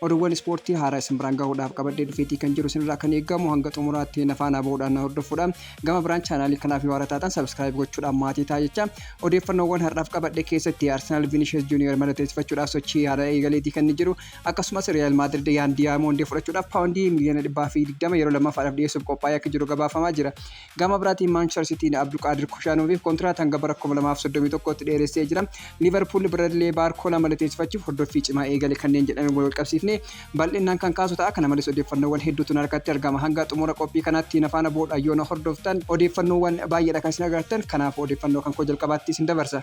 Oduuwwan ispoortii haaraa isin biraan gahuudhaaf qabadhee dhufeetii kan jiru isinirraa kan eegamu hanga xumuraatti na faanaa bahuudhaan na hordofuudha. Gama biraan chaanaalii kanaaf yoo haaraa taatan sabskiraayib gochuudhaan maatii ta'a jecha. Odeeffannoowwan har'aaf qabadhe keessatti Arsenaal Vinicius Junior mallatteessifachuudhaaf sochii haaraa eegaleetii kan inni jiru. Akkasumas Riyaal Maadrid Yaan Diyaamondee fudhachuudhaaf paawundii miliyoona dhibbaa fi digdama yeroo lammaffaadhaaf dhiyeessuuf qophaa'ee akka jiru gabaafamaa jira. Gama biraatiin Maanchister Siitiin Abduqaadir Kushaanooviif kontiraata hanga bara 2031tti dheeressee jira. Liivarpuul Biradlee Baarkoolaa mallatteessifachuuf hordoffii cimaa eegale kanneen jedhame wal qabsiifnee bal'inaan kan kaasu ta'a. Kana malees odeeffannoowwan hedduutu na harkatti argama. Hanga xumura qophii kanaatti na faana bu'uudhaan yoo na hordoftan odeeffannoowwan baay'eedha kan isin agartan. Kanaafuu odeeffannoo kan koo jalqabaatti isin dabarsa.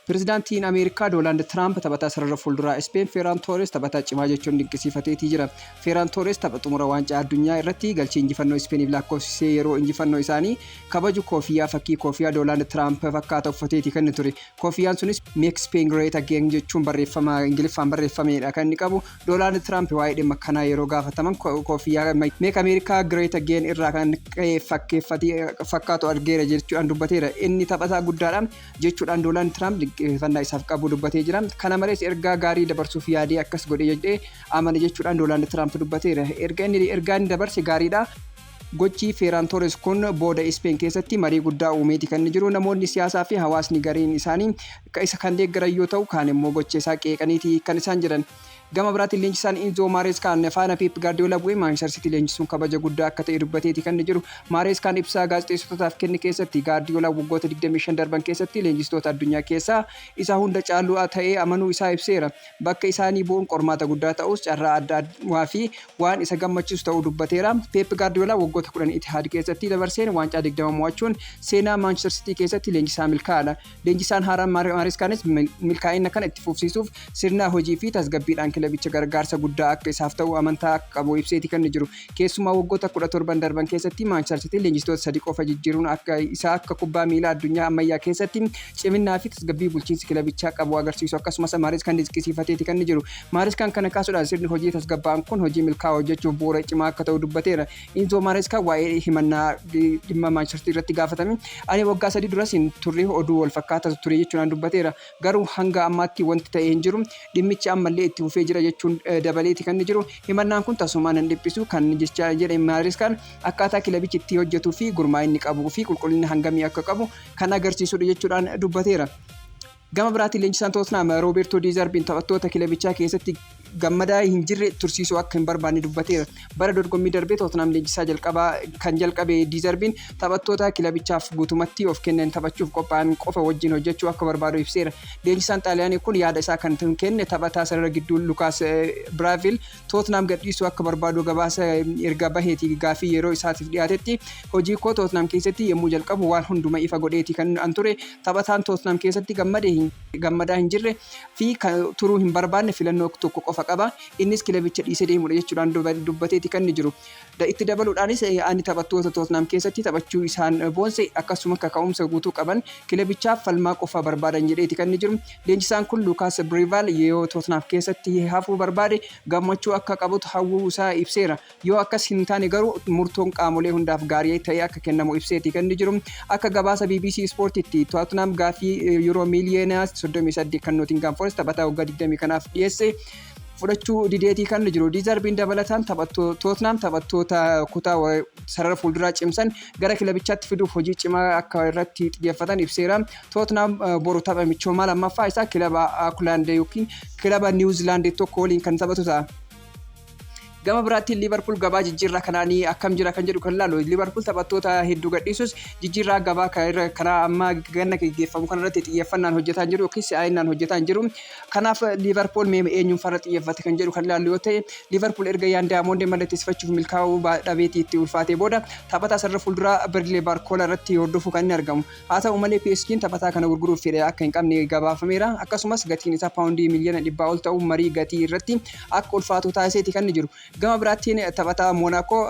Pirezidaantiin Ameerikaa Doonaald Tiraamp taphataa sarara fuulduraa Ispeen Feeraan Toorees taphataa cimaa jechuun dinqisiifateetii jira. Feeraan Toorees tapha xumura waancaa addunyaa irratti galchii injifannoo Ispeeniif lakkoofsisee yeroo injifannoo isaanii kabaju koofiyyaa fakkii koofiyyaa Doonaald Tiraamp fakkaata uffateetii kan inni ture. Koofiyyaan sunis Make Spain Great Again jechuun barreeffama Ingiliffaan barreeffameedha kan inni qabu. Doonaald Tiraamp waa'ee dhimma kanaa yeroo gaafataman koofiyyaa Make America Great Again irraa kan ka'e fakkeeffate fakkaatu argeera jechuudhaan dubbateera. Inni taphataa guddaadha. jechuudhaan Doonaald Tiraamp dinqisiifannaa isaaf qabu dubbatee jira. Kana malees ergaa gaarii dabarsuuf yaadee akkas godhe jedhee amana jechuudhaan Doonaald Tiraamp dubbateera. Erga inni ergaa inni dabarse gaariidha. Gochi Feeraan Toores kun booda Ispeen keessatti marii guddaa uumeeti kan inni jiru. Namoonni siyaasaa fi hawaasni gariin isaanii isa kan deeggaran yoo ta'u, kaan immoo gocha isaa qeeqaniiti kan isaan jiran. Gama biraatiin leenjisaan Inzoo Maareeskaan faana Peep Gaardiyoolaa bu'ee Maanchister Siitii leenjisuun kabaja guddaa akka ta'e dubbateeti kan jiru. Maareeskaan ibsaa gaazexeessitootaaf kenne keessatti Gaardiyoolaan waggoota 25 darban keessatti leenjistoota addunyaa keessaa isa hunda caalu ta'ee amanuu isaa ibseera. Bakka isaanii bu'uun qormaata guddaa ta'us carraa addaa fi waan isa gammachiisu ta'uu dubbateera. Peep Gaardiyoolaa waggoota 10 Itihaad keessatti dabarseen waancaa 20 mo'achuun seenaa Maanchister Siitii keessatti leenjisaa milkaa'aadha. Leenjisaan haaraan Maareskaanis milkaa'ina kana itti fufsiisuuf sirnaa hojii fi tasgabbiidhaan kilabicha gargaarsa guddaa akka isaaf ta'u amantaa akka qabu ibseeti kan jiru. Keessumaa waggoota 17 darban keessatti Maanchister Siitiin leenjistoota sadi qofa jijjiiruun akka isaa akka kubbaa miilaa addunyaa ammayyaa keessatti ciminnaa fi tasgabbii bulchiinsi kilabichaa qabu agarsiisu akkasumas Maareskaan dinqisiifateeti kan jiru. Maareskaan kana kaasuudhaan sirni hojii tasgabbaa'aan kun hojii milkaa'aa hojjechuuf bu'uura cimaa akka ta'u dubbateera. Inzoo Maareeskaa waa'ee himannaa dhimma Maanchester irratti gaafatame ani waggaa sadii duras hin turre oduu wal fakkaataatu ture jechuudhaan dubbateera. Garuu hanga ammaatti wanti ta'e hin jiru. Dhimmichi ammallee itti fufee jira jechuun dabaleeti kan inni jiru. Himannaan kun tasumaa nan dhiphisu kan jecha jedhe Maareeskaan akkaataa kilabichi itti hojjetuu fi gurmaa'inni qabuu fi qulqullina hangamii akka qabu kan agarsiisudha jechuudhaan dubbateera. Gama biraatiin leenjisaan Tootnaam Roobeertoo Diizarbiin taphattoota kilabichaa keessatti gammadaa hin jirre tursiisuu akka hin barbaanne dubbateera. Bara dorgommii darbee Tootnaam leenjisaa jalqabaa kan jalqabe Diizarbiin taphattoota kilabichaaf guutumatti of kennan taphachuuf qophaa'an qofa wajjin hojjechuu akka barbaadu ibseera. Leenjisaan Xaaliyaanii kun yaada isaa kan kenne taphataa sarara gidduu Lukaas Biraaviil Tootnaam gadhiisuu akka barbaadu gabaasa erga baheeti gaaffii yeroo isaatiif dhiyaatetti hojii koo Tootnaam keessatti yommuu jalqabu waan hunduma ifa godheeti kan an ture taphataan Tootnaam keessatti gammade gammadaa hin jirre fi turuu hin barbaanne filannoo tokko qofa qaba innis kilabicha dhiisee deemuudha jechuudhaan dubbateeti kan inni jiru. Itti dabaluudhaanis ani taphattoota Tootnaam keessatti taphachuu isaan boonse akkasuma kaka'umsa guutuu qaban kilabichaaf falmaa qofa barbaadan jedheeti kan inni jiru. Leenjisaan kun Luukaas Briivaal yoo Tootnaam keessatti hafuu barbaade gammachuu akka qabutu hawwuu isaa ibseera. Yoo akkas hin taane garuu murtoon qaamolee hundaaf gaarii ta'ee akka kennamu ibseeti kan inni jiru. Akka gabaasa bbc Ispoortiitti Tootnaam gaaffii Yuuroo miiliyoona 38 kan Nootingaam Forest taphataa waggaa 20 kanaaf dhiyeesse fudhachuu dideetii kan jiru diizarbiin dabalataan tootnaam taphattoota kutaa sarara fuulduraa cimsan gara kilabichaatti fiduuf hojii cimaa akka irratti xiyyeeffatan ibseera tootnaam boru tapha michoomaa lammaffaa isaa kilaba Auckland yookiin kilaba New Zealand tokko waliin kan taphatu ta'a. Gama biraatiin Liivarpuul gabaa jijjiirraa kanaan akkam jira kan jedhu kan ilaalu Liivarpuul taphattoota hedduu gadhiisus jijjiirraa gabaa kanaa amma ganna geggeeffamu kanarratti xiyyeeffannaan hojjetaa jiru yookiin si'aa'innaan hojjetaa jiru. Kanaaf Liivarpuul mee eenyuun farra xiyyeeffate kan jedhu kan ilaalu yoo ta'e Liivarpuul erga Yaan Daayamoondee mallatteessifachuuf milkaa'uu dhabeetii itti ulfaatee booda taphataa sarara fuulduraa Birilee Baarkoolaa irratti hordofuu kan inni argamu. Haa ta'u malee PSG'n taphataa kana gurguruuf fedha akka hin qabne gabaafameera. Akkasumas gatiin isaa paawundii miiliyoona dhibbaa ol ta'u marii gatii irratti akka ulfaatu taasiseeti kan jiru. Gama biraattiin taphataa Moonaakoo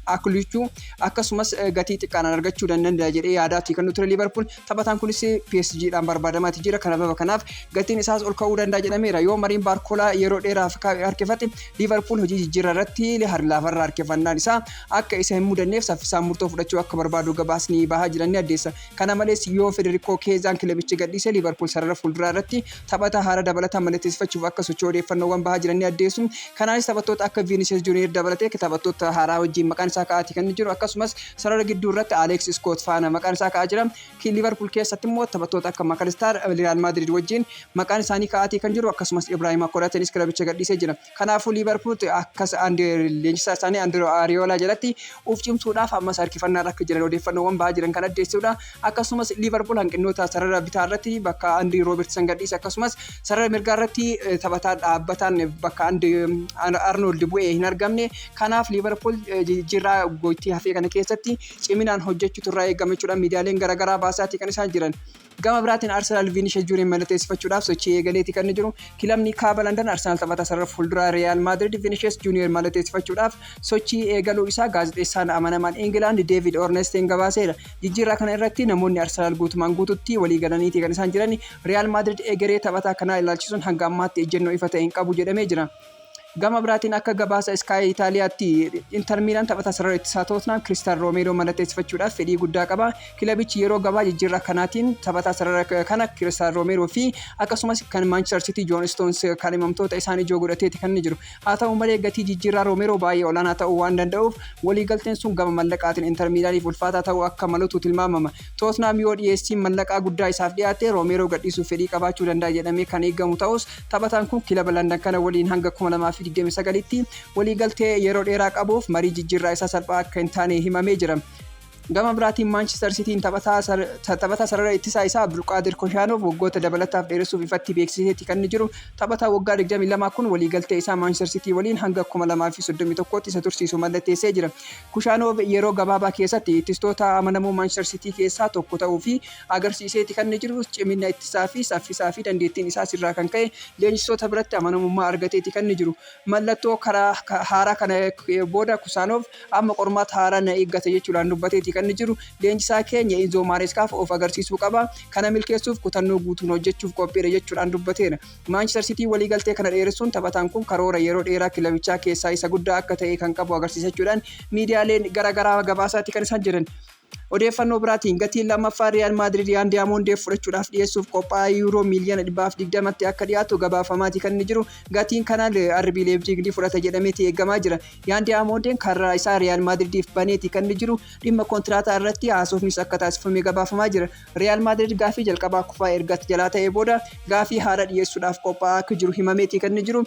Akluchuu akkasumas gatii xiqqaadhaan argachuu dandanda'a jedhee yaadaati kan ture Liiverpuul. Taphataan kunis PSG'dhaan barbaadamaati jira. Kanababa kanaaf gatiin isaas ol ka'uu danda'a jedhameera. Yoo mariin Baarkoolaa yeroo dheeraaf harkifate Liiverpuul hojii jijjiirraa irratti harlaafarraa harkifannaan isaa akka isa hin mudanneef saffisaan murtoo fudhachuu akka barbaadu gabaasni bahaa jiran ni addeessa. Kana malees yoo Federikoo Keezaan kilabicha gadhiise Liivarpuul sarara fuulduraa irratti taphataa haaraa dabalataan mallatteessifachuuf akka socho'u odeeffannoowwan bahaa jiran ni addeessu. Kanaanis taphattoota akka Viinisiyees Juuniyeer dabalatee taphattoota haaraa wajjin maqaan isaa ka'aati kan inni jiru. Akkasumas sarara gidduu irratti Aleeks Iskoot faana maqaan isaa ka'aa jira. Liivarpuul keessatti immoo taphattoota akka Makalistaar Riyaal Maadiriid wajjin maqaan isaanii ka'aatii kan jiru. Akkasumas Ibraahimaa Konaateenis kilabicha gadhiisee jira. Kanaafuu Liivarpuul akka leenjisaa isaanii Andiroo Aariyoolaa jalatti of cimsuudhaaf ammas harkifannaarra akka jiran odeeffannoowwan bahaa jiran kan addeessuudha. Akkasumas Liivarpuul hanqinnoota sarara bitaa irratti bakka Andrii Roobertsan gadhiise akkasumas sarara mirgaa irratti taphataa dhaabbataan bakka Arnold bu'ee hin argamne. Kanaaf Liivarpuul jijjiirraa goitii hafee kana keessatti ciminaan hojjechuutu irraa eegama jechuudha. Miidiyaaleen garaagaraa baasaatii kan isaan jiran. Gama biraatiin Arsenaal Viinishes Juuniyer mallateessifachuudhaaf sochii eegaleeti kan inni jiru. Kilabni Kaaba Landan Arsenaal taphataa sarara fuulduraa Riyaal Maadrid Viinishes Juuniyer mallateessifachuudhaaf sochii eegaluu isaa gaazexeessaan amanamaan Ingilaand Deevid Ornesteen gabaaseera. Jijjiirraa kana irratti namoonni Arsenaal guutumaan guututti walii galaniiti kan isaan jiran. Riyaal Maadrid egeree taphataa kanaa ilaalchisuun hanga ammaatti ejjennoo ifa ta'e hin qabu jedhamee jira. Gama biraatiin akka gabaasa Sky Itaaliyaatti Inter Miilaan taphataa sarara ittisaa Tootnaam Kiristaal Roomeeroo mallatteessifachuudhaaf fedhii guddaa qaba. Kilabichi yeroo gabaa jijjiirraa kanaatiin taphataa sarara kana Kiristaal Roomeeroo fi akkasumas kan Maanchister Sitii Joon Istoons kaadhimamtoota isaan ijoo godhateeti kan inni jiru. Haa ta'u malee gatii jijjiirraa Roomeeroo baay'ee olaanaa ta'uu waan danda'uuf waliigalteen sun gama mallaqaatiin Inter Miilaaniif ulfaataa ta'uu akka malutu tilmaamama. Tootnaam yoo dhiyeessiin mallaqaa guddaa isaaf dhiyaate Roomeeroo gadhiisuuf fedhii qabaachuu danda'a jedhamee kan eegamu ta'us, Taphataan kun kilaba Landan kana waliin hanga 2029tti waliigaltee yeroo dheeraa qabuuf marii jijjiirraa isaa salphaa akka hin taane himamee jira. Gama biraatiin Maanchister Sitiin taphataa sarara ittisaa isaa Abdulqaadir Koshaanov waggoota dabalataaf dheeressuuf ifatti beeksiseeti kan inni jiru. Taphataa waggaa 22 kun waliigaltee isaa Maanchister Sitii waliin hanga 2031tti isa tursiisu mallatteessee jira. Kushaanov yeroo gabaabaa keessatti ittistoota amanamoo Maanchister Sitii keessaa tokko ta'uu fi agarsiiseeti kan inni jiru. Cimina ittisaa fi saffisaa fi dandeettiin isaas irraa kan ka'e leenjistoota biratti amanamummaa argateeti kan inni jiru. Mallattoo karaa haaraa kana booda Kusaanoov amma qormaata haaraa na eeggata jechuudhaan dubbateeti kan inni jiru. Leenjisaa keenya Inzoo Maareeskaaf of agarsiisuu qaba. Kana milkeessuuf kutannoo guutuun hojjechuuf qophiidha jechuudhaan dubbateera. Maanchistar Siitiin waliigaltee kana dheeressuun taphataan kun karoora yeroo dheeraa kilabichaa keessaa isa guddaa akka ta'e kan qabu agarsiisa jechuudhaan miidiyaaleen gara garaa gabaasaati kan isaan jiran. Odeeffannoo biraatiin gatiin lammaffaa Riyaal Maadriid Yaan Diyaamondeef fudhachuudhaaf dhiyeessuuf qophaa'ee yuuroo miiliyoona 120tti akka dhiyaatu gabaafamaati kan inni jiru. Gatiin kanaan RB Leebjiig ni fudhata jedhameeti eegamaa jira. Yaan Diyaamondeen karraa isaa Riyaal Maadriidiif baneeti kan inni jiru. Dhimma kontiraataa irratti haasofnis akka taasifame gabaafamaa jira. Riyaal Maadriid gaafii jalqabaa kufaa erga jalaa ta'ee booda gaafii haaraa dhiyeessuudhaaf qophaa'aa akka jiru himameeti kan inni jiru.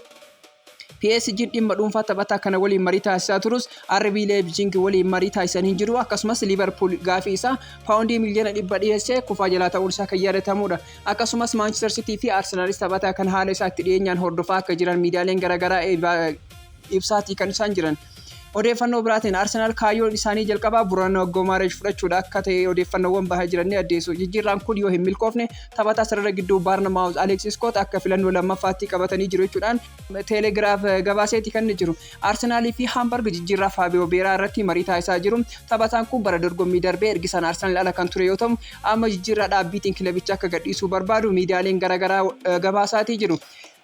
PSG'n dhimma dhuunfaa taphataa kana waliin marii taasisaa turus RB Leipzig waliin marii taasisan hin jiru. Akkasumas Liverpool gaafii isaa paawundii miliyoona dhibba dhiyeessee kufaa jalaa ta'uun isaa kan yaadatamudha. Akkasumas Manchester City fi Arsenaalis taphataa kana haala isaa itti dhiyeenyaan hordofaa akka jiran miidiyaaleen garaagaraa ibsaatii kan isaan jiran. Odeeffannoo biraatiin Arsenaal kaayyoon isaanii jalqabaa Burano Gomaresh fudhachuudha akka ta'e odeeffannoowwan bahaa jiran ni addeessu. Jijjiirraan kun yoo hin milkoofne taphataa sarara gidduu Baarnamaawuz Aleeks Iskoot akka filannoo lammaffaatti qabatanii jiru jechuudhaan Teelegiraaf gabaaseeti kan jiru. Arsenaalii fi Haambarg jijjiirraa Faabiyoo Beeraa irratti marii taasisaa jiru. Taphataan kun bara dorgommii darbee ergisaan Arsenaal ala kan ture yoo ta'u, amma jijjiirraa dhaabbiitiin kilabicha akka gadhiisuu barbaadu miidiyaaleen garaagaraa gabaasaatii jiru.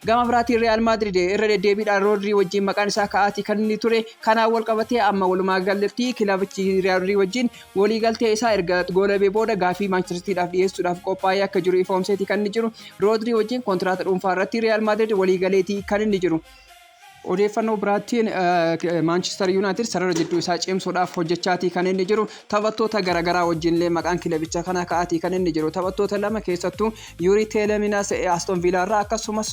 Gama biraatiin Riyaal Maadriid irra deddeebiidhaan Roodrii wajjiin maqaan isaa ka'aatii kan inni ture. Kanaan walqabatee amma walumaagalatti kilabichi Riyaadrii wajjiin waliigaltee isaa erga goolabee booda gaafii Maanchister Sitiidhaaf dhiyeessuudhaaf qophaa'ee akka jiru ifoomseetii kan inni jiru. Roodrii wajjiin kontiraata dhuunfaa irratti Riyaal Maadriid waliigaleetii kan inni jiru. Odeeffannoo biraattiin Maanchistar Yuunaayitid sarara jidduu isaa cimsuudhaaf hojjechaatii kan inni jiru taphattoota garaagaraa wajjinillee maqaan kilabicha kana ka'aatii kan inni jiru taphattoota lama keessattuu Yuurii Teeleminas Aston Viilaa irraa akkasumas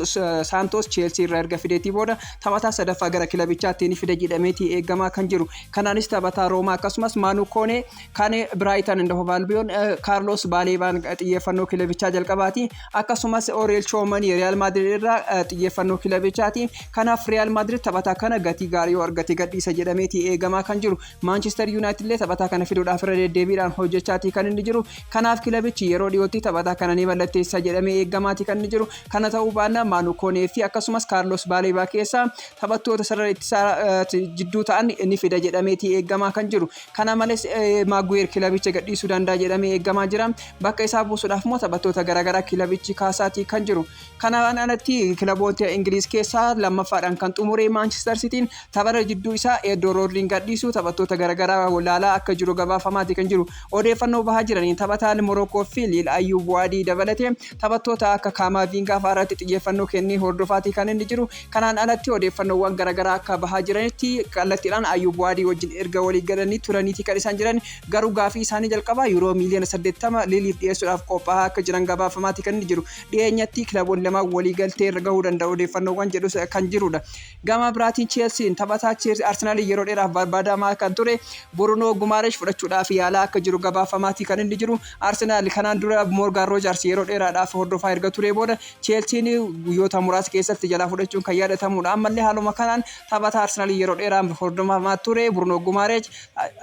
Saantoos Cheelsii irraa erga fideetii booda taphataa sadaffaa gara kilabichaatti ni fida jedhameetii eegamaa kan jiru kanaanis taphataa Roomaa akkasumas Maanuu Koonee Kan Biraayitan and Hove Albion Kaarloos Baaleebaan xiyyeeffannoo kilabichaa jalqabaati. Akkasumas Oriyel Choomanii Riyaal Maadrid irraa xiyyeeffannoo kilabichaati. Kanaaf Riyaal Maadrid taphataa kana gatii gaarii yoo argate gadhiisa jedhameeti eegamaa kan jiru. Maanchister Yuunaayitid illee taphataa kana fiduudhaaf irra deddeebiidhaan hojjechaatii kan inni jiru. Kanaaf kilabichi yeroo dhiyootti taphataa kana ni mallatteessa jedhamee eegamaati kan inni jiru. Kana ta'uu baannaan Maanu Koonee fi akkasumas Kaarloos Baaleebaa keessaa taphattoota sarara ittisaa jidduu ta'an ni fida jedhameeti eegamaa kan jiru. Kana malees Maaguweer kilabicha gadhiisuu danda'a jedhamee eegamaa jira. Bakka isaa buusuudhaaf immoo taphattoota garaagaraa kilabichi kaasaatii kan jiru. Kanaan alatti kilaboota Ingiliiz keessaa lammaffaadhaan kan xumure Maanchister Sitiin taphata jidduu isaa Eedoo Roodriin gadhiisuu taphattoota garaagaraa laalaa akka jiru gabaafamaati kan jiru. Odeeffannoo bahaa jiraniin taphataan Morookoo fi Liil Ayyuub Waadii dabalatee taphattoota akka Kaamaaviingaa fa'aa irratti xiyyeeffannoo kennee hordofaatii kan inni jiru. Kanaan alatti odeeffannoowwan garagaraa akka bahaa jiranitti kallattiidhaan Ayyuub Waadii wajjin erga walii galanii turaniiti kan isaan jedhan garuu gaafii isaanii jalqabaa Yuuroo miiliyoona 80 Liiliif dhiyeessuudhaaf qophaahaa akka jiran gabaafamaati kan inni jiru. Dhiyeenyatti kilaboonni lamaan walii galtee irra gahuu danda'u odeeffannoowwan jedhus kan jiruudha. Gama biraatiin Cheelsiin taphataa Arsenaaliin yeroo dheeraaf barbaadamaa kan ture Burunoo Gumaaresh fudhachuudhaaf yaalaa akka jiru gabaafamaati kan inni jiru. Arsenaal kanaan dura Moorgaan Roojaars yeroo dheeraadhaaf hordofaa erga turee booda Cheelsiin guyyoota muraasa keessatti jalaa fudhachuun kan yaadatamudha. Ammallee haaluma kanaan taphataa Arsenalii yeroo dheeraa hordofamaa ture Bruno Gumareej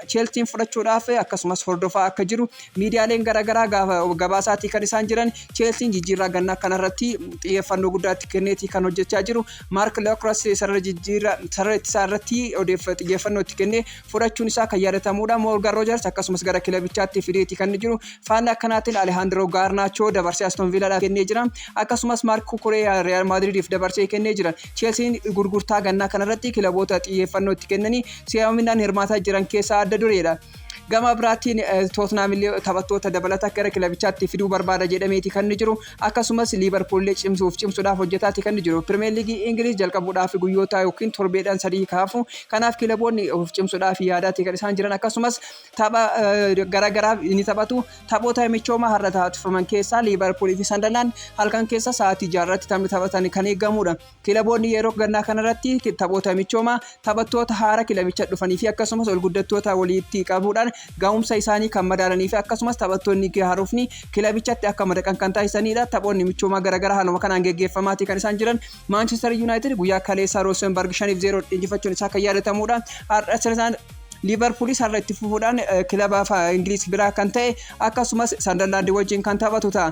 Cheelsiin fudhachuudhaaf akkasumas hordofaa akka jiru miidiyaaleen garaagaraa gabaasaatii kan isaan jiran Cheelsiin jijjiirraa gannaa kanarratti xiyyeeffannoo guddaatti kenneetii kan hojjechaa jiru. Maark Lookras sarara jijjiirraa sarara ittisaa irratti xiyyeeffannoo itti kennee fudhachuun isaa kan yaadatamuudha. Moorgan Roojars akkasumas gara kilabichaatti fideeti kan jiru. Faallaa akkanaatiin Alehaandiroo Gaarnaachoo dabarsee Aston Viilaadhaaf kennee jira. Akkasumas Maark Kukureeyaa Riyaal Maadriidiif dabarsee kennee jira. Cheelsiin gurgurtaa gannaa kanarratti kilaboota xiyyeeffannoo itti kennanii si'aaminaan hirmaataa jiran keessaa adda dureedha. Gama biraatiin Tootnaam illee taphattoota dabalataa gara kilabichaatti fiduu barbaada jedhameeti kan jiru. Akkasumas Liivarpuullee cimsuuf cimsuudhaaf hojjetaati kan jiru. Pirimeer Liigii Ingiliiz jalqabuudhaaf guyyoota yookiin torbeedhaan sadii kaafu. Kanaaf kilaboonni of cimsuudhaaf yaadaati kan isaan jiran. Akkasumas tapha garaagaraa ni taphatu. Taphoota michoomaa har'a taasifaman keessaa Liivarpuulii fi Sandalaan halkan keessa sa'aatii jaarratti taphni taphatan kan eegamudha. Kilaboonni yeroo gannaa kanarratti taphoota michoomaa taphattoota haara kilabicha dhufanii fi akkasumas ol guddattoota waliitti qabuudhaan ga'umsa isaanii kan madaalanii fi akkasumas taphattoonni haarofni kilabichatti akka madaqan kan taasisaniidha. Taphoonni michoomaa garaagaraa haaluma kanaan geggeeffamaatii kan isaan jiran Maanchester Yuunaayitid guyyaa kaleessaa Roosenbarg 5 0 injifachuun isaa kan yaadatamuudha. Har'a sirnaan Liivarpuulis har'a itti fufuudhaan kilaba Ingiliiz biraa kan ta'e akkasumas Sandarlaandii wajjin kan taphatu ta'a.